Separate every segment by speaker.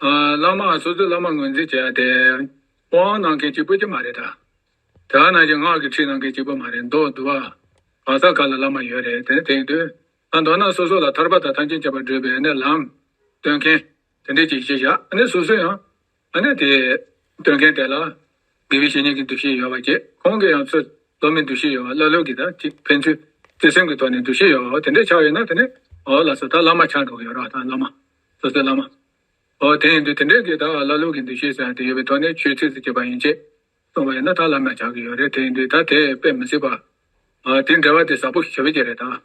Speaker 1: བླ་མ་སོ་སོའི་བླ་མ་ངོས་འཛིན་བྱས་ཡ་དེ། དབང་གནང་མཁན་གཅིག་པུ་གཅིག་མ་རེད་ད། དེ་བ་ནང་བཞིན་སྔགས་ཀྱི་ཁྲིད་གནང་མཁན་གཅིག་པུ་མ་རེད་མདོག་བསྡུ་བ། གང་ས་ག་ལ་བླ་མ་ཡོད་རེད་དེ་ནི་དེང་དུས། ད་མདོར་ན་སོ་སོ་ལ་ཐར་པ་དང་ཐམས་ཅད་མཁྱེན་པར་བགྲོད་པའི་ནི་ལམ། སྟོན་མཁན། དེ་འདྲས་ཅིག་བྱས་བཞག་ཨ་ནི་སོ་སོ་ཡང། ཨ་ནི་དེ། སྟོན་མཁན་དེ་ལ། དགེ་བའི་བཤེས་གཉེན་གྱི་འདུ་ཤེས་ཡོད་པ་བཅས་ཁོང་གི་ཡང་ཚུལ། སློབ་མའི་འདུ་ཤེས་ཡོད་པ་ཀླ་ཀློས་ཀྱི་ད་ཅིག་ཕན་ཚུན། བརྩེ་སེམས་ཀྱི་ཐོག་ནས་འདུ་ཤེས་ཡོད་པ་བ་དེ་འདྲས་ཆགས་ཡོད་ན་དེ་ནི། འོ་ལགས་སོ་ད་བླ་མ་ཆགས་འགྲོ་གི་ཡོད་རོགས་ད་བླ་མ། སོ་སོའི་བླ་མ། འོ་དེ་ཡིན་དུས་དེ་འདྲའི་གེ་དག་བླ་ལུགས་ཀྱི་འདུ་ཤེས་སོགས་ཡང་དེ་ཡོད་པའི་ཐོག་ནས་ཆོས་ཚིགས་སུ་བཅད་པ་ཡིན་ཅེས། གསུངས་པ་ཡིན་ན་ད་ལམ་ཡང་ཆགས་ཀྱི་ཡོད་རེད་དེ་ཡིན་དུས་ད་དེ་དཔེ་མི་སྲིད་པ། དེ་འདྲ་བ་དེ་ཟབ་པོ་ཞི་བའི་རྒྱུ་རེད་ད།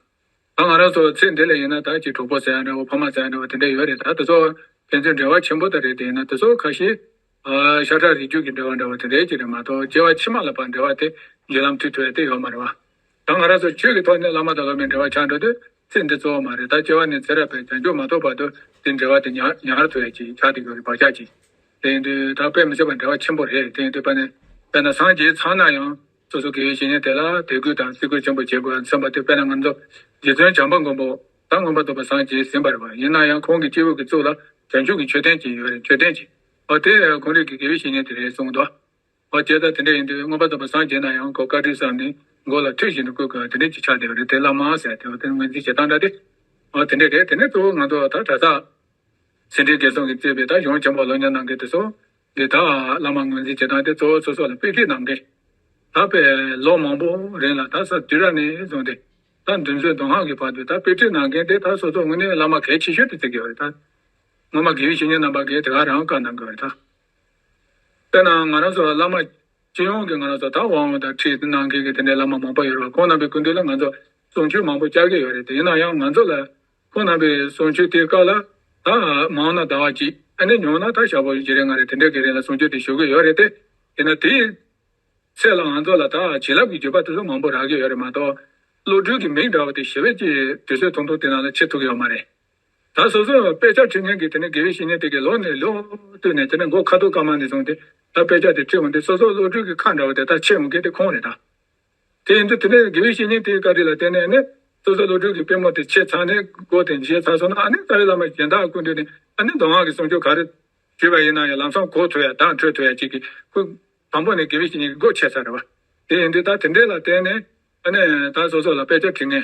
Speaker 1: ད་ང་རང་ཚོ་ཚེ་འདི་ལ་ཡིན་ན་ད་ཅིག་གྲོགས་པོ་ཟེར་ཡང་འདྲ་བོ་ཕ་མ་ཟེར་ཡང་འདྲ་བོ་དེ་འདྲ་ཡོད་རེད་ད་དེ་ཚོ། ཕན་ཚུན་འབྲེལ་བ་ཆེན་པོ་དག་རེད་དེ་ཡིན་ན་དེ་ཚོ་ཁ་ཤས། ཤ་ཁྲག་རིགས་རྒྱུད་ཀྱི་འབྲེལ་བ་འདྲ་བོ་དེ་འདྲའི་ཅིག་རེད་མ་གཏོགས་སྐྱེ་བ་ཕྱི་མ་ལ་བར་འབྲེལ་བ་དེ་བརྒྱུད་ལམ་དུས་ཐོས་དེ་ཡོད་མ་རེད་བ། ད་ང་རང་ཚོ་ཆོས་ཀྱི་ཐོག་ནས་བླ་མ་དང་སློབ་མའི་འབྲེལ་བ་ཆགས་འགྲོ་དུས་ཚེ་འདི་གཙོ་བོ་མ་རེད་ད་སྐྱེ་བ་ནས་ཚེ་རབས་པའི་བྱང་ཆུབ་མ་ཐོབ་བར་དུ་དེ་འབྲེལ་བ་དེ་ཉར་ཉར་ཐུ་རེ་ཅིག་ཆགས་ཏེ་ཡོད་རེད་བག་ཆགས་ཀྱིས། དེ་ཡིན་དུས་ད་དཔེ་མི་ཆོག་པ་འབྲེལ་བ་ཆེན་པོ་རེད་དེ་ཡིན་དུས་པ་ནི། དཔེར་ན་སངས་རྒྱས་ཚང་ན་ཡང་སོ་སོ་གི་བཤེས་གཉེན་དེ་ལ་དད་གུས་དང་བརྩི་བཀུར་ཆེན་པོ་བྱེད་དགོས་བསམ་པ་དེ་དཔེར་ན་ང་ཚོ་རྗེ་བཙུན་བྱམས་པ་མགོན་པོ་དང་མངོན་པ་རྫོགས་པ་སངས་རྒྱས་ཟིན་པར་བ་ཡིན་ན་ཡང་ཁོང་གི་སྐྱེས་བུ་གི་གཙུག་ལ་བྱང་ཆུབ་ཀྱི་མཆོད་རྟེན་གྱི་ཡོད་རེད་མཆོད་རྟེན་གྱི་བ་དེ་གོང་རིགས་ཀྱི་དགེ་བའི་བཤེས་གཉེན་དེ་རེད་གསུངས་འདུག་བ་དེ་ལྟར་དེ་འདྲ་ཡིན་དུས་མངོན་པར་རྟོགས་པའི་སངས་རྒྱས་ན་ཡང་གོ་བཀའ་དྲིན་བསམ་ནས་མགོ་ལ་ཐུལ་བཞིན་དུ་བཀུར་དགོས་པ་དེ་འདྲའི་ཅི་ཆགས་བསྡད་པ་རེད་དེ་བླ་མ་ཟེར་དེ་བ་དེ་ངོས་འཛིན་བྱེད་སྟངས་འདྲ་སྟེ། འོ་དེ་འདྲས་རེད་དེ་ནས་གཙོ་བོ་ང་ཚོ་ད་གྲྭ་ཚག། ཟིན་བྲིས་འགན་སྲུང་གིས་གཙོས་པའི་ད་གཞུང་ཆེན་པོ་ལོ་ཉེར་གནང་མཁན་དེ་ཚོ། འདི་དག་བླ་མ་ངོས་འཛིན་བྱེད་སྟངས་དེ་གཙོ་བོ་སོ་སོ་ལ་དཔེ་ཁྲིད་གནང་མཁན། ད་དཔེ་ལོ་མང་པོ་རིང་ལ་ད་ས་དུས་ར་ནས་བཟུང་སྟེ། ད་མདུན་མཛོད་མདོ་སྔགས་ཀྱི་བར་དུ་ད་དཔེ་ཁྲིད་གནང་མཁན་དེ་དག་སོ་སོ་དངོས་གནས་བླ་མ་གལ་ཆེ་ཤོས་དུ་བརྩི་དགོས་པ་རེད་ད། སྔོན་མ་དགེ་བཤེས་གཉེན་རྣམ་པ་འགས་དེ་ག་རང་བཀའ་གནང་དགོས་པ་རེད་ད། དཔེར་ན་ང་རང་ཚོ་ལ་བླ་མ། སྤྱི་ཡོངས་ཀྱི་ང་རང་ཚོ་དག་དབང་བོ་དང་ཁྲིད་གནང་མཁན་གྱི་དེ་འདྲའི་བླ་མ་མང་པོ་ཡོད་རེད་ཁོང་རྣམ་པའི་སྐུལ་འདེད་ལ་ང་ཚོ་ཟུང་ཆུ་མང་པོ་བཅག་གི་ཡོད་རེད་དེ་ཡིན་ན་ཡང་ང་ཚོ་ལ་ཁོང་རྣམ་པའི་ཟུང་ཆུ་དེ་བཀག་ལ། ད་མང་ན་ཟླ་བ་གཅིག་ཨ་ནེ་མྱོང་ན་ད་ཞག་པོ་བཞི་རེ་ལྔ་རེ་དེ་འདྲའི་གི་རིང་ལ་ཟུང་ཆུ་དེ་ཞུགས་གི་ཡོད་རེད་དེ། དེས་ན་དེའི་ཚེ་ལ་ང་ཚོ་ལ་ད་བྱིན་རླབས་ཀྱི་རྒྱུ་བ་དེ་ཚོ་མང་པོ་རག་གི་ཡོད་རེད་མ་གཏོགས། བློ་གྲོས་ཀྱི་མིག་འདྲ་བ་དེ་ཞི་བས་ཀྱིས་དུས་ཚོད་ཐུང་ཐུང་དེ་ནང་ལ་ཕྱེ་ཐུབ་ཀྱི་ཡོད་མ་རེད། ད་སོ་སོས་དཔེ་ཆ་འཁྲིད་མཁན་གྱིས་དེ་ནས་དགེ་བའི་བཤེས་གཉེན་དེ་གའི་ལོགས་ནས་ལོགས་བཏུད་ནས་དེ་ནས་མགོ་ཁ་ཐུག་ཀ་མ་ནས་བཟུང་སྟེ་ད་དཔེ་ཆ་དེ་འཁྲིད་འོང་དུས་སོ་སོ་བློ་གྲོས་ཀྱི་ཁ་འདྲ་བ་དེ་དག་ཕྱེ་འོང་མཁན་དེ་ཁོང་རེད་ད། དེ་ཡིན་དུས་དེ་ནས་དགེ་བའི་བཤེས་གཉེན་དེའི་བཀའ་དྲིན་ལ་བརྟེན་ནས་ནི་སོ་སོའི་བློ་གྲོས་ཀྱི་པད་མོ་དེ་ཕྱེ་ཚར་ནས་སྒོ་དེ་འབྱེད་ཚར་སོང་ན་ཨ་ནི་རྩ་བའི་བླ་མ་གཞན་དག་ཀུན་འདུས་ནས་ཨ་ནི་མདོ་སྔགས་ཀྱི་གསུང་ཆོས་ག་རེ་ཞུས་པ་ཡིན་ན་ཡང་ལམ་སང་གོ་ཐོས་ཡ་དང་འཕྲོད་ཐོས་ཡ་གཅིག་གིས་ཁོས་དང་པོ་ནས་དགེ་བའི་བཤེས་གཉེན་གྱི་སྒོ་ཕྱེ་ཚར་རེད་བ། དེ་ཡིན་དུས་ད་དེ་འདྲའི་ལ་བརྟེན་ནས་ཨ་ནི་ད་སོ་སོ་ལ་དཔེ་ཆ་འཁྲིད་མཁན།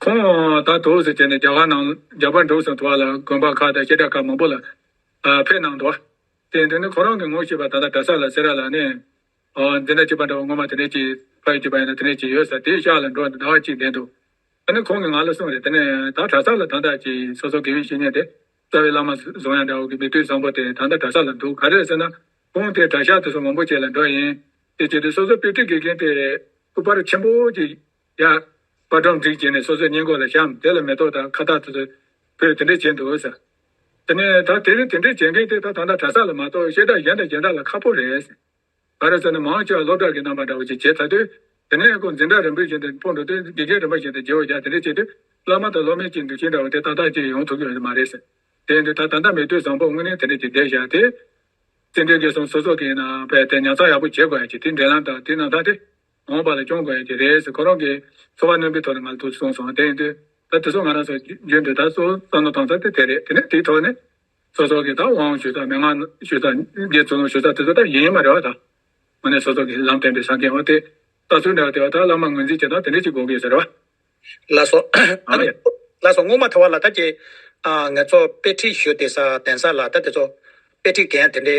Speaker 1: ཁོང་ད་དུས་སུ་དེ་ནས་རྒྱ་གར་ནང་རྒྱ་བལ་འབྲུག་སོགས་དུ་བ་ལ་དགོན་པ་ཁག་དང་ཤེལ་བྲག་ཁག་མང་པོ་ལ་ཕེབས་གནང་འདུག་དེ་འདི་ནི་ཁོང་རང་གི་ངོ་ཤེས་པ་ད་ལྟ་གྲྭ་ས་ལ་སེ་ར་ལ་ནས་འདི་འདྲ་བྱེད་པ་འདྲ་བ་ངོ་མ་དེ་འདྲས་ཀྱིས་ཕ་ཡུལ་གྱི་བ་ཡིན་ན་དེ་འདྲས་ཀྱིས་ཡོད་ས་དེའི་ཤག་ལ་འགྲོ་ཟླ་བ་གཅིག་བསྡད་འདུག་ད་ནི་ཁོང་གིས་ང་ལ་གསུངས་རེད་དེ་ནས་ད་གྲྭ་ས་ལ་ད་ལྟ་ཀྱི་སོ་སོ་དགེ་བའི་བཤེས་གཉེན་དེ་རྩ་བའི་བླ་མ་ཟུང་ཡང་འདྲ་བོ་གི་མི་ཐུས་བཟང་པོ་དེ་ད་ལྟ་གྲྭ་ས་ལ་འདུག་ག་རེད་ཟེར་ན་ཁོང་དེ་གྲྭ་ཤག་དེ་སོ་མང་པོ་བཅས་ལ་འགྲོ་ཡིན་དེ་བྱས་དུས་སོ་སོ་པེ་ཏི་དགེ་རྒན་དེ་སྐུ་པར་ཆེན་པོ་གཅིག་ཡ། པ་གྲོང་སྒྲིག་བྱས་ནས་སོ་སོའི་ཉེན་ཀོར་ལ་བཤམས་དེ་ལ་མེ་ཏོག་དང་ཁ་བཏགས་དེ་ཚོ་ཕུལ་དེ་འདྲས་བྱས་འདུག་ཟེར། དེ་ནས་ད་དེ་རིང་དེ་འདྲས་བྱེད་མཁན་དེ་ད་ད་ལྟ་གྲྭ་ས་ལ་མ་གཏོགས་གཞས་བདག་གཞན་དང་གཞན་དག་ལ་ཁག་པོ་རེད་ཟེར། ག་རེ་ཟེར་ན་མང་ཆེ་བ་སློབ་གྲྭ་གི་རྣམ་པ་འདྲ་བོ་ཞིག་བྱས་ཚར་དུས། དེ་ནས་ཀོ་འཛིན་གྲྭ་རིན་པོ་བཞིན་དུ་སྤོ་འགྲོ་དུས་དགེ་རྒན་རིན་པོ་བཞིན་དུ་རྗེ་བོ་བཞག་དེ་འདྲས་བྱས་དུས། སློབ་མ་དང་སློབ་མའི་གཅིག་འདུ་ཤེས་འདྲ་བོ་དེ་ཏག་ཏག་ཅིག་ཡོང་ཐུབ་ཀྱི་ཡོད་མ་རེད་ཟེར། དེ་ཡིན་དུས་ད་ད་ལྟ་མི་དུས་བཟང་པོར་དངོས་གནས་དེ་འདྲས་ཀྱི་བསྡད་བཞག་དེ། བཙན་བྱོལ་སྐད་གསུམ་སོ་སོ་གི་ནང་བས་དེ་ཉར་ཚགས་ཡག་པོ་བྱེད་དགོས་ཡ་ཅིག་དེའི་འབྲེལ་ལམ་དང་དེའི་རྣམ་ཐར་དེ། འོངས་པ་ལ་སྐྱོང་དགོས་ཀྱི་རེད་ཟེར་ཁོ་རང་གིས་འཚོ་བ་རྣོན་པོའི་ཐོག་ནས་མ་འདུག་གསུངས་སོང་དེ་ཡིན་དུས་ད་དེ་ཚོ་ང་རང་ཚོ་རྒྱུད་འདི་དག་སོ་སོ་ནོར་གཏོང་ས་དེ་དེ་རེད་དེ་ནས་དེའི་ཐོག་ནས་སོ་སོ་གིས་ད་དབང་ཞུ་ས་མི་མངག་ཞུ་ས་རྒྱའི་ཚུར་ལོངས་ཞུ་ས་དེ་ཚོ་ད་ཡིན་ཡིན་མ་རེད་བ་ད་ང་ནས་སོ་སོ་གིས་ལམ་བསྟན་པའི་ས་འགན་བ་དེ་ད་ཚུར་འདྲ་བ་དེ་བ་ད་བླ་མ་ངོས་འཛིན་བྱེད་སྟངས་དེ་འདྲ་ཅིག་དགོས་ཀྱི་ཟེར་བ། ལ་སོ།
Speaker 2: ཨ་མ་ཡ། ལ་སོ་སྔོན་མ་ཐོ་བ་ལ་ད་ཀྱེ། ང་ཚོ་དཔེ་ཁྲིད་ཞུས་དེ་ས་གདན་ས་ལ་ད་དེ་ཚོ་དཔེ་ཁྲིད་འགན་དེ་འདྲའི།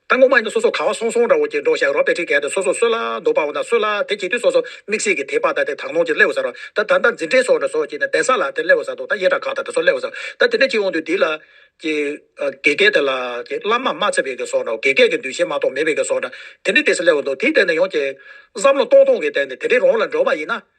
Speaker 2: ད་ངོ་མ་ཡིན་དུ་སོ་སོ་ག་བ་སོང་སོང་འདྲ་བོ་གྱེས་འགྲོ་བཞག་རོ་པེ་ཁྲིག་གས་དུ་སོ་སོ་སོད་ལ་རྡོ་པའོ་ན་སོད་ལ་དེ་གྱེས་དུས་སོ་སོ་མིག་སེར་གྱི་དེ་པ་ད་དེ་དག་ནོར་གྱི་སླེའོ་ཟ་རོ་ད་ད་ད་འཛིན་གྲས་སོ་འདྲ་སོ་གྱེས་ན་དེ་ཟ་ལ་དེ་སླེའོ་ཟ་འདུག་ད་ཡེ་དྲ་ཁག་ད་དེ་སོ་སླེའོ་ཟ་ད་དེ་འདྲས་གྱེས་འོང་དུས་དེ་ལ་གྱེས་གྱེས་གས་དེ་ལ་གྱེས་བླ་མ་མ་ཚེ་བས་གས་སོ་འདྲ་བོ་གྱེས་གས་གས་འདུས་བྱས་མ་གཏོགས་མེད་བས་གས་སོ་འདྲ་དེ་འདྲས་དེ་ཟ་སླེའོ་འདུག་དེའི་སྟེང་ནས་ཡོང་གྱེས་བསམ་བློ་གཏོང་གཏོང་གས་སྟེང་ནས་དེ་འདྲས་རོང་ལ་འགྲོ་བ་ཡིན་ན་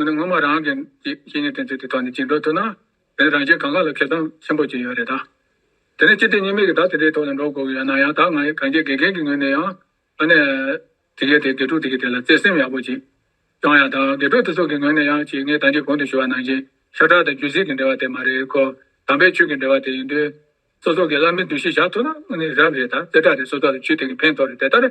Speaker 2: འོན་ཏེ་ངོ་མ་རང་གི་གཞི་ཉིད་དོན་སྤྱི་དེ་དག་ནི་
Speaker 1: ཅིག་འགྲོ་ཐུབ་ན། དེ་ནི་རང་གཞན་གང་ག་ལ་ཁེ་དང་ཆེན་པོ་ཅིག་ཡོད་རེད་ད། དེ་ནས་སྤྱི་དེ་གཉིས་མེད་ཀྱི་བདག་དེ་འདྲའི་ཐོག་ལ་འགྲོ་དགོས་ཀྱི་ཡོད་ན་ཡང་དག་ང་ཡི་གངས་ཅན་དགེ་རྒན་གྱི་ངོས་ནས་ཡང། ཨ་ནེ། དེ་གས་དེ་དགེ་ཕྲུག་དེ་གས་དེ་ལ་བརྩེ་སེམས་ཡག་པོ་ཅིག། བྱུང་ཡང་དག་དགེ་ཕྲུག་དེ་ཚོ་གི་ངོས་ནས་ཡང་ཅིག་ངས་དང་ཅིག་གོང་དུ་ཞུ་བ་ནང་བཞིན་ཤ་ཁྲག་དང་རྒྱུད་གཟིགས་ཀྱི་འབྲེལ་བ་དེ་མ་རེད་ཁོ། དམ་པའི་ཆོས་ཀྱི་འབྲེལ་བ་དེ་ཡིན་དུས། སོ་སོ་གི་བླ་མའི་འདུ་ཤེས་བཞག་ཐུབ་ན་ནི་རབ་རེད་ད་རྩེ་གྲ་རེ་སོ་སོ་ལ་ཆུད་དེ་གི་ཕན་ཐོགས་རེད་དེ་ལྟར།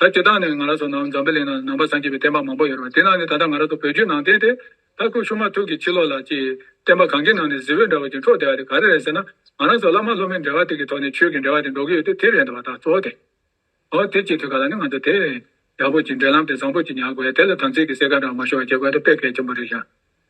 Speaker 1: ད་དེ་དག་ནས་ང་ར་སོ་ནང་འཛམ་བུ་གླིང་ན་ནང་པ་བཟང་སྐྱེས་པའི་བསྟན་པ་མང་པོ་ཡོད་རུང་དེ་ནང་ནས་ད་ལྟ་ང་ར་སོ་བོད་བརྒྱུད་ནང་བསྟན་དེ་ད་སྐུ་གཤུགས་མ་ཐུག་གི་ཕྱི་ལོག་ལ་ཀྱི་བསྟན་པ་གང་གི་ནང་ནས་གཟི་འོད་འདྲ་བ་ཅིག་འཕྲོག་བསྡད་པ་དེ་ག་རེ་རེད་ཟེར་ན་ང་
Speaker 2: ར་སོ་བླ་མ་སློབ་མའི་འབྲེལ་བ་དེ་གི་ཐོག་ནས་ཆོས་ཀྱི་འབྲེལ་བ་དེ་འགྲོ་གི་ཡོད་དེ་དེ་རེད་འདུག་བ་ད་གཙོ་བོ་དེ། ཨོ་དེ་སྐྱེས་དུས་ག་ལ་ནི་ང་ཚོ་དེ། ཡག་པོ་ཅིག་འབྲེལ་ལམ་དེ་བཟང་པོ་ཅིག་ཉར་དགོས་ཡ་དེ་ལ་དམ་ཚིག་གི་གསེར་ཁ་འདྲ་བ་མ་ཤོར་བ་བྱེད་དགོས་ཡ་དེ་དཔེ་གལ་ཆེན་པོ་རེད་ཤག་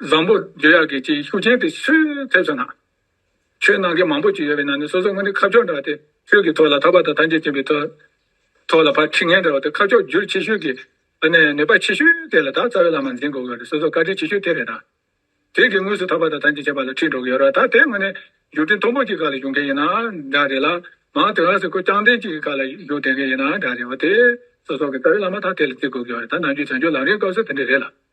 Speaker 1: བཟང་པོ་འཇོ་ཡག་གི་ཅིག་ཤུགས་ཅན་དེ་སུས་ཐེབས་སོང་ན། ཆོས་ནང་གི་མང་པོ་ཅིག་ཡོད་པའི་ནང་ནས་སོ་སོ་སྔོན་དུ་ཁ་ཕྱོགས་འདྲ་བ་དེ་ཆོས་ཀྱི་ཐོག་ལ་ཐར་པ་དང་ཐམས་ཅད་བྱེད་པའི་ཐོག་ལ་ཕར་ཁྲི་ངན་འདྲ་བ་དེ་ཁ་ཕྱོགས་བསྒྱུར་ཆེ་ཤོས་ཀྱི་ནད་པ་ཆེ་ཤོས་དེ་ལ་ད་རྩ་བའི་བླ་མ་འཛིན་དགོས་གི་རེད་སོ་སོ་བཀའ་དྲིན་ཆེ་ཤོས་དེ་རེད་ད། དེ་གི་དངོས་སུ་ཐར་པ་དང་ཐམས་ཅད་བྱེད་པ་ལ་ཁྲིད་འགྲོ་གི་ཡོད་ར་ད་དེ་དངོས་ནས་རྒྱུ་རྐྱེན་མཐོ་པོ་ཅིག་ག་ལ་བྱུང་མཁན་ཡིན་ན་འདྲ་རེད་ལ་
Speaker 2: མང་དེ་ག་ཟེར་ཁོ་རྐྱང་རྟེན་ཅིག་གི་ག་ལ་རྒྱུ་དེ་ག་ཡིན་ན་འདྲ་རེད་བ་དེ་སོ་སོ་གི་རྩ་བའི་བླ་མ་ད་དེ་ལ་བརྩི་དགོས་གི་ཡོད་རེད་ད་ནང་ཆོས་བྱང་ཆོས་ལམ་རེའི་སྐབས་སུ་དེ་འདྲ་རེད་ལ།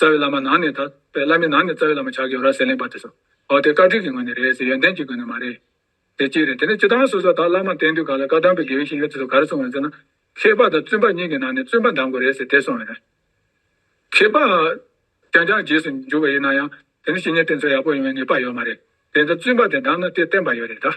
Speaker 2: རྩ་བའི་བླ་མ་ནང་ནས་དག་
Speaker 1: པའི་བླ་མའི་ནང་ནས་རྩ་བའི་བླ་མ་ཆགས་ཀྱི་ཡོད་ར་ཟེར་ལན་པ་དེ་སོ། འོ་དེ་བཀའ་དྲིན་གྱི་ངོས་ནས་རེད་ཟེར་ཡོན་ཏན་གྱི་སྒོས་ནས་མ་རེད། དེ་གཅིག་རེད་དེ་ནས་སྤྱི་བཏང་སོ་སོ་དག་བླ་མ་བསྟེན་དུས་ག་ལ་བཀའ་གདམས་པའི་དགེ་བའི་བཤེས་གཉེན་དེ་ཚོ་ག་རེ་གསུང་ཡོད་ཟེར་ན། མཁས་པ་དང་བཙུན་པ་གཉིས་ཀྱི་ནང་ནས་བཙུན་པ་འདམས་དགོས་རེད་ཟེར་དེ་གསུང་ཡོད་རེད། མཁས་པ། རྐྱང་རྐྱང་རྗེས་སུ་འཇུག་པ་ཡིན་ན་ཡང་དེ་ནི་བཤེས་གཉེན་བསྟེན་ཚུལ་ཡག་པོ་ཡོང་བའི་ངེས་པ་ཡོད་མ་རེད། དེ་ཚོ་བཙུན་པ་དེ་འདམས་ན་དེ་བསྟན་པ་ཡོད་རེད་དཱ།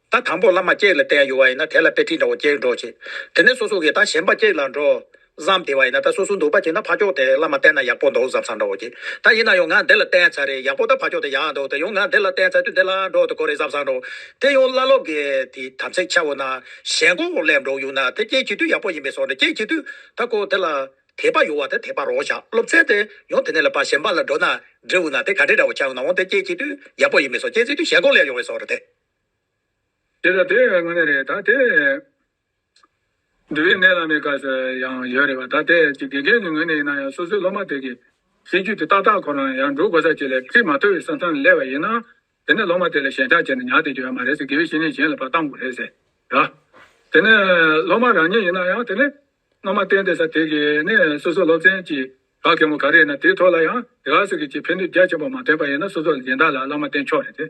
Speaker 2: ད་དང་པོར་བླ་མ་ཀེག་ལ་བསྟེན་ཡོད་བ་ཡིན་ན་དེ་ལ་དཔེ་ཁྲིད་འདྲ་བོ་ཀེག་འགྲོ་བྱེད། དེ་ནས་སོ་སོ་གིས་ད་གཞན་པ་ཀེག་ལ་འགྲོ། བསམ་དེ་བ་ཡིན་ན་ད་སོ་སོ་འདུག་པ་བྱེད་ན་ཕ་ཀྱོག་དེ་བླ་མ་བསྟེན་ན་ཡག་པོ་འདུག་བསམ་བསམ་འདྲ་བོ་བྱེད། ད་ཡིན་ན་ཡང་ང་འདི་ལ་བསྟེན་ཚར་རེད་ཡག་པོ་ད་ཕ་ཀྱོག་དེ་ཡག་འདུག་དེ་ཡང་ང་འདི་ལ་བསྟེན་ཚར་དུས་འདི་ལ་འགྲོ་དུ་གོ་རེད་བསམ་བསམ་འདྲ་བོ། དེ་ཡང་བླ་སློབ་ཀྱི་དེ་དམ་ཚིག་འཆལ་བོ་ན་གཞན་གོག་འོག་སླེབས་འགྲོ་ཡོང་ན་དེ་ཀེག་བྱེད་དུས་ཡག་པོ་ཡིན་པའི་སོགས་འདྲ་ཀེག་བྱེད་དུས་ད་ཀོ་དེ་ལ་དད་པ་ཡོད་བ་དེ་དད་པ་རོགས་བྱ་སློབ་ཚན་དེ་ཡང་དེ་ནས་ལ་པ་གཞན་པ་ལ་འགྲོ་ན་འབྲི་འོང་ན་དེ་ག་འདྲས་འདྲ་བོ་ཆགས་ཡོང་ན་འོང་དེ་ཀེག་བྱེད་དུས་ཡག་པོ་ཡིན་པའི་སོགས་ཀེག་བྱེད་དུས་གཞན་གོག་སླེབས་ཡོང་བའི་སོགས་འདྲ་དེ།
Speaker 1: དེ་ལ་དེ་ངོ་མི་རེད་ད་དེ། འདུལ་བའི་གནས་ལ་མེད་ཁ་ཤས་ཡང་ཡོད་རེད་བ་ད་དེ་ཅི་དགེ་རྒན་ནི་ངོས་ནས་ཡིན་ན་ཡང་སོ་སོའི་སློབ་མ་དེ་གི་གཤིས་རྒྱུད་དེ་ཏག་ཏག་ཁོ་རང་ཡང་འགྲོ་དགོས་ས་ཅིག་ལས་ཁྲིད་མ་ཐུབ་བའི་ས་མཚམས་ལ་སླེབས་པ་ཡིན་ན་དེ་ནས་སློབ་མ་དེ་ལ་ཞེན་ཆགས་བྱས་ན་ཉག་དེ་འགྱོད་ཡ་མ་རེད་ཟེར་དགེ་བའི་བཤེས་གཉེན་གཞན་ལ་བར་བཏང་དགོས་རེད་ཟེར་ད། དེ་ནས་སློབ་མ་རང་ཉིད་ཡིན་ན་ཡང་དེ་ནས་སྔ་མ་བསྟེན་བསྡད་ས་དེ་གི་ནས་སོ་སོ་སློབ་ཚན་གྱི་ག་གེ་མོ་ག་རེ་ཡིན་ན་དེའི་ཐོག་ལ་ཡང་དེ་ག་ཟེར་གི་ཅིག་ཕན་ནུས་རྒྱ་ཆེན་པོ་མ་ཐོན་པ་ཡིན་ན་སོ་སོ་ལ་སྦྱིན་བདག་ལ་བླ་མ་བསྟེན་ཆོག་རེད་དེ།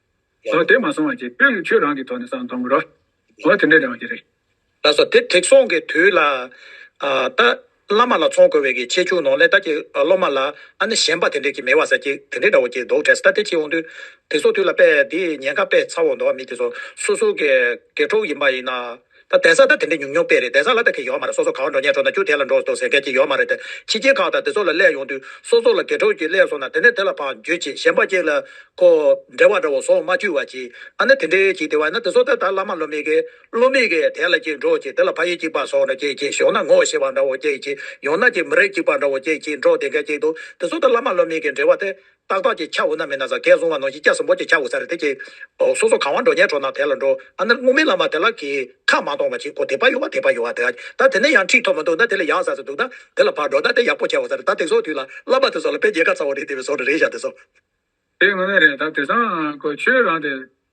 Speaker 1: ལོ་དེ་མ་སོང་བར་གྱི་དཔེར་ན་ཁྱོད་རང་གི་ཐོག་ནས་བསམ་གཏོང་གི་རོགས། ངོ་དེ་འདྲས་ཀྱང་ཡོད་ཀྱི་རེད། ལགས་སོ། དེ་དྲེགས་
Speaker 2: སོང་གི་དུས་ལ། ད། བླ་མ་ལ་ཚོང་དགོས་བས་ཀྱི་ཆེ་ཆུང་ནོར་ལས་ད་ཀྱི་སློབ་མ་ལ། ཨ་ནི་གཞན་པ་དེ་འདྲས་ཀྱི་མེད་བ་ཟེར་གྱི་དེ་འདྲས་འདྲ་བོ་ཀྱི་འདུག་དྲས་ད་དེ་ཁྱེད་འོང་དུས། དེ་ཚོ་དུས་ལ་དཔེ་འདི་ཉན་ཁ་དཔེ་ཚ་བོ་འདུག་མི་དེ་ཚོ་སོ་སོ་གི། དགེ་གྲོགས་ཡིན་པ་ཡིན་ན། ད་གདན་ས་ད་དེ་འདྲའི་ཉུང་ཉུང་དཔེ་རེད་གདན་ས་ལ་ད་གེ་ཡོད་མ་རེད་སོ་སོ་གང་འགྲོ་ཉལ་འགྲོ་ན་ཁྱོད་དེ་ལ་འགྲོ་འདུག་ཟེར་མཁན་གྱི་ཡོད་མ་རེད་དེ་ཕྱི་རྒྱལ་ཁག་དང་དེ་ཚོ་ལ་སླེབས་ཡོང་དུས་སོ་སོ་ལ་དགེ་གྲོགས་ཀྱིས་སླེབས་སོང་ན་དེ་ནས་དེ་ལ་བག་འགྱོད་ཅིག་གཞན་པ་གཅིག་ལ་ཁོ་འདྲེ་བ་འདྲ་བོ་ཟོག་མ་བཅུ་བ་ཅིག་ཨ་ན་དེ་འདྲའི་ཅིག་དེ་བས་ན་དེ་ཚོ་ད་ད་བླ་མ་བློ་མི་དགེ་བློ་མི་དགེ་དེ་ལ་ཅིག་འགྲོ་ཅིག་དེ་ལ་ཕ་ཡུལ་གཅིག་པ་ཟོག་འདྲ་ཅིག་ཅིག་ཞོག་ན་ངོ་ཤེས་པ་འདྲ་བོ་ཅིག་ཅིག་ཡོང་ན་ཅིག་མི་རིགས་གཅིག་པ་འདྲ་བོ་ཅིག་ཅིག་འགྲོ་དེ་འགའ་ཅིག་འདུག་དེ་ཚོ་ད་བླ་མ་བློ་མི་དགེ་འདྲེ་བ་དེ་ཏག་ཏག་གི་ཁྱ་འུ་ན་མེད་ན་ཟ་གས་བཟུང་བ་ནོ་ཡིག་སྐྱ་ཟུམ་པོ་གྱི་ཁྱ་འུ་ཟ་རེད་དེ་ཀྱི། ཨོ་སོ་སོ་གང་བ་འགྲོ་ཉལ་གྲོ་ན་དེ་ལ་འགྲོ་ཨ་ནེར་སྔོ་མི་ལ་མ་དེ་ལ་གི་ཁ་མ་གཏོང་བ་གྱིས་ཁོ་དེ་པ་ཡོ་བ་དེ་པ་ཡོ་བ་དེ་ད་དེ་ནས་ཡང་འཁྲིག་ཐོབ་མ་འདུག་ད་དེ་ལས་ཡག་ཟ་ཟི་འདུག་ད་དེ་ལ་བར་འགྲོ་ད་དེ་ཡག་པོ་ཁྱ་འུ་ཟ་རེད་ད་དེ་སོགས་དུས་ལ་བླ་མ་དེ་སོགས་ལ་དཔེ་རྒྱས་ཁ་ཚ་བོ་རེད་དེ་བས་སོགས་རེ་རེ་བཞག་དེ་སོགས། དེ་ངོ་མ་
Speaker 1: རེད་ད་དེ་སང་གོ་ཆོས་རང་དེ།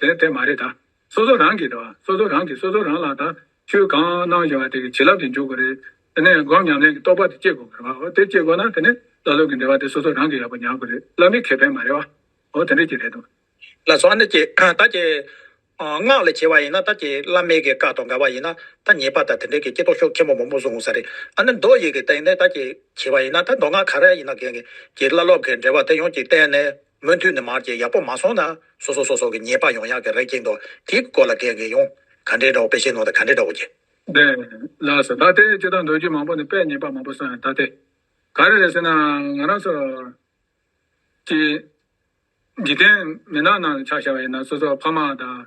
Speaker 1: དེ་མ་རེད་ད། སོ་སོ་རང་གིས་ད། སོ་སོ་རང་གིས་སོ་སོ་རང་ལ་ད། ཆོས་གང་གནང་བཞིན་བ་དེ་གི་བྱིན་རླབས་ཀྱིས་འཇུག་གི་རེད། དེ་ནས་སྒོམ་ཉམས་ལེན་གྱི་རྟོགས་པ་དེ་སྐྱེ་དགོས་གི་རེད། འོ་དེ་སྐྱེ་དགོས་ན་དེ་ནས་བླ་སློབ་ཀྱི་འབྲེལ་བ་དེ་སོ་སོ་རང་གིས་ཡག་པོ་ཉར་དགོས་རེད་བླ་མའི་ཁེ་ཕན་མ་རེད་བ། འོ་དེ་འདྲས་ཀྱི་རེད་དོ། ལ་སོགས་ནི་ཀྱི།
Speaker 2: ད་ཀྱི། སྔགས་ལས་བྱེད་བ་ཡིན་ན་ད་ཀྱི་བླ་མའི་གི་བཀའ་དང་དགའ་བ་ཡིན་ན་ད་ཉེས་པ་ད་དེ་འདྲས་ཀྱི་ཀྱི་རྟོགས་ཤོག་ཁྱེད་མོ་མོ་མོ་སུ་འོང་ས་རེད། ཨ་ནི་མདོ་ཡི་གི་སྟེང་ནས་ད་ཀྱི་བྱེད་བ་ཡིན་ན་ད་མདོ་སྔགས་ག་རེ་ཡིན་ན་གི་ཀྱི་བླ་སློབ་གི་འབྲེལ་བ་དེ་ཡོངས་ཀྱི་བསྟན་ནས། མུ་མཐུད་ནས་མར་གྱི་ཡག་པོ་མ་སོང་ན། སོ་སོ་སོ་སོ་གི་ཉེས་པ་ཡོང་ཡག་གི་རེ་སྐྱེས་འདུག་དེའི་སྐོར་ལ་དྲན་གི་ཡོང། ག་འདྲའི་འདྲ་བོ་དཔེ་ཤེས་ནོ་ད་ག་འདྲའི་འདྲ་བོ་ཀྱེ། བདེན།
Speaker 1: ལགས་སོ་ད་ལྟའི་སྤྱི་དང་འདོད་རྒྱུ་མང་པོ་ནི་དཔེ་ཉེས་པ་མང་པོ་སོང་ཡང་ད་ལྟའི། ག་རེ་རེད་ཟེར་ན་ང་རང་ཚོ། ཀྱི། འཇིག་རྟེན་མི་ནག་ནང་ལ་ཆགས་བཞག་པ་ཡིན་ན་སོ་སོ་ཕ་མ་དང།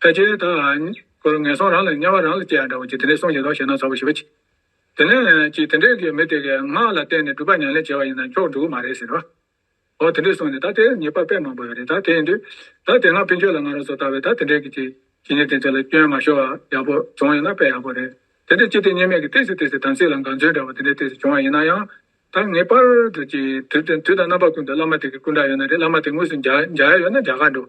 Speaker 1: ཕལ་ཆེར་ད་བར་ངན་སོང་རང་ལ་དམྱལ་བ་རང་ལ་སྐྱེ་བ་འདྲ་བ་ཅིག་དེ་ནས་སོང་ཞིག་དོགས་ཤེས་ན་ཚོར་བ་ཞི་བ་གྱིས། དེ་ནས་ཅིག་དེ་འདྲས་ཀྱི་མི་དེ་གའི་སྔགས་ལ་བརྟེན་ནས་སྒྲུབ་པ་ཉམས་ལེན་བྱས་པ་ཡིན་ན་མཆོག་འགྲུབ་མ་རེད་ཟེར། འོ་དེ་འདྲས་སོང་ནས་ད་དེར་ངེས་པར་དཔེ་མང་པོ་ཡོད་རེད་ད་དེའི་དུས། ད་དེ་སྔ་ཕན་ཆོད་ལ་ང་རང་ཚོ་ལྟ་བས་ད་དེ་འདྲས་ཀྱི་ཅིག་ཇི་སྙེད་དེ་ཚོ་ལ་སྐྱོན་མ་ཤོར་བ་ཡག་པོ་བྱུང་ཡོད་ན་དཔེ་ཡག་པོ་རེད། དེ་འདྲས་ཅི་སྟེ་གཉིས་མེད་ཀྱི་ལྟས་སུ་ལྟས་སུ་དམ་ཚིག་ལ་འགངས་ཚུལ་འདྲ་བ་དེ་འདྲས་ལྟས་སུ་བྱུང་བ་ཡིན་ན་ཡང། ད་ངེས་པར་དུ་ཅིག་དུས་དང་རྣམ་པ་ཀུན་ཏུ་བླ་མ་དེ་གའི་སྐུ་འདྲ་ཡོད་ན་རེད་བླ་མ་དེ་དངོས་སུ་མཇལ་ཡས་ཡོད་ན་མཇལ་ཁ་འགྲོ།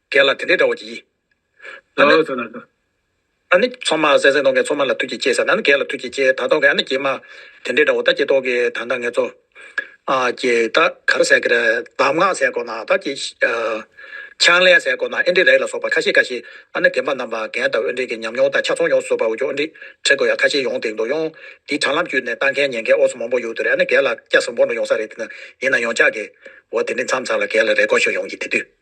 Speaker 2: གལ་ལ་དེ་འདྲའི་དགྲ་བོ་གྱིས། ཨ་ནི། ཨ་ནི། ཚོང་མ་གསལ་གསལ་མདོག་མཁན་ཚོང་མ་ལ་ཐུགས་ཀྱིས་གཅེས་ཟེར་ན་ནི་གལ་ལ་ཐུགས་ཀྱིས་གཅེས་ད་དོགས་ཀྱི་ཨ་ནི་ཀྱེ་མ། དེ་འདྲའི་དགྲ་བོ་ད་ཀྱེ་དོགས་ཀྱི་ད་ད་ངེད་ཚོ། ཨ་ཀྱེ་ད་གར་ཟས་ཀྱི་རེད་གདམས་ངག་ཟས་གོ་ན་ད་ཀྱེ། ཆང་ལས་ཟས་གོ་ན་ཨེ་འདྲི་རེད་ལ་སོགས་པ་ཁ་ཤས་ཁ་ཤས་ཨ་ནི་དེ་འབའ་རྣམས་པ་གན་ད་འོས་འགྲན་གྱི་ཉམས་མྱོང་ད་ཆ་ཚོང་ཡོང་བཟོ་པའོ་ཀྱོ་འདྲི་ཁྲེ་གོ་ཡ་ཁ་ཤས་ཡོང་དེང་དུ་ཡོང་དེ་དྲ་ལམ་བརྒྱུད་ནས་ལྟ་མཁན་ཉན་མཁན་ཨོ་སོ་མང་པོ་ཡོད་དུ་རེད་ཨ་ནི་གལ་ལ་སྐྱ་སེར་འབོར་འདྲ་ཡོང་ས་རེད་དེ་ན་ཡིན་ན་ཡོང་ཆགས་ཀྱི་འོ་དེ་འདྲི་མཚམས་ཚར་ལ་གལ་ལ་རེ་སྐོར་ཤོག་ཡོང་གྱི་དེ་དུས།